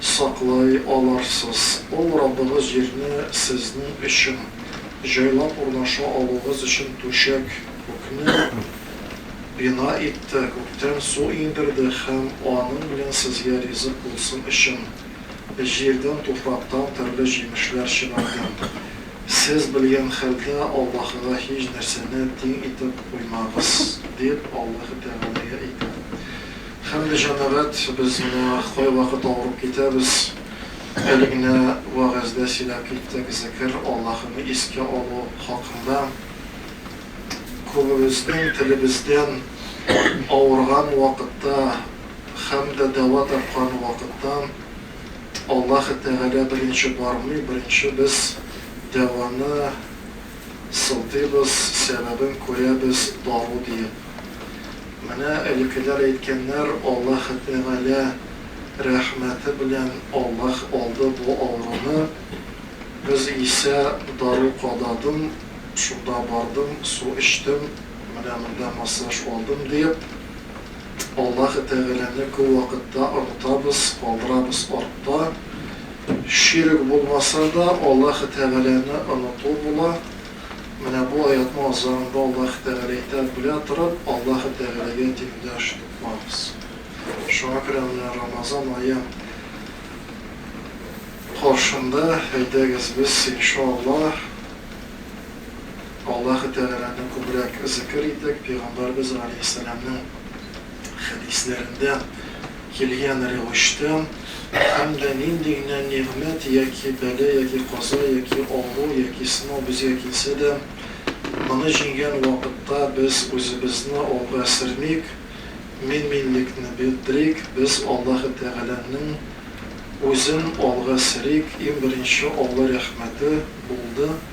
саклый аларсыз. Ул Раббыгыз җирне сезнең өчен, җайлап урнаша алуыгыз өчен түшәк, күкне бина итте, күктән су иңдерде һәм аның белән сезгә ризык булсын өчен, җирдән, туфрактан төрле җимешләр чыгарды. Сез белгән хәлдә Аллаһыга һич нәрсәне тиң итеп куймагыз, дип Аллаһы Тәгаләгә әйтә. Һәм дә җәмәгать, без менә кайвакыт авырып китәбез, әле генә вәгазьдә сөйләп киттек, зекер, Аллаһыны искә алу хакында. Күбебезнең телебездән авырган вакытта һәм дә дәва тапкан вакытта Аллаһы Тәгалә беренче бармый, беренче без дәваны, Сылтыйбыз, сәбәбен күрәбез, дару диеп. Менә элекеләр әйткәннәр, Аллаһы Тәгалә рәхмәте белән Аллаһ алды бу авыруны, без исә дару кададым, шунда бардым, су эчтем, менә монда массаж алдым, диеп. Аллаһы Тәгаләне күп вакытта онытабыз, калдырабыз артта. Ширк булмаса да, Аллаһы Тәгаләне оныту була. Менә бу аятьнең азагында Аллаһы Тәгалә әйтә, Белә торып, Аллаһы Тәгаләгә тиңдәш тупмагыз. Шуңа күрә менә Рамазан ае каршында, әйдәгез без, иншаАллаһ, Аллаһы Тәгаләне күбрәк зикер итик, Пәйгамбәрбез галәйһиссәламнең хәдисләрендә килгән рәвештә, һәм дә нинди генә нигъмәт яки бәла яки каза яки авыру яки сынау безгә килсә дә, моны җиңгән вакытта без үзебезне алга сермик, мин-минлекне бетерик, без Аллаһы Тәгаләнең Үзен алга серик, иң беренче Алла рәхмәте булды.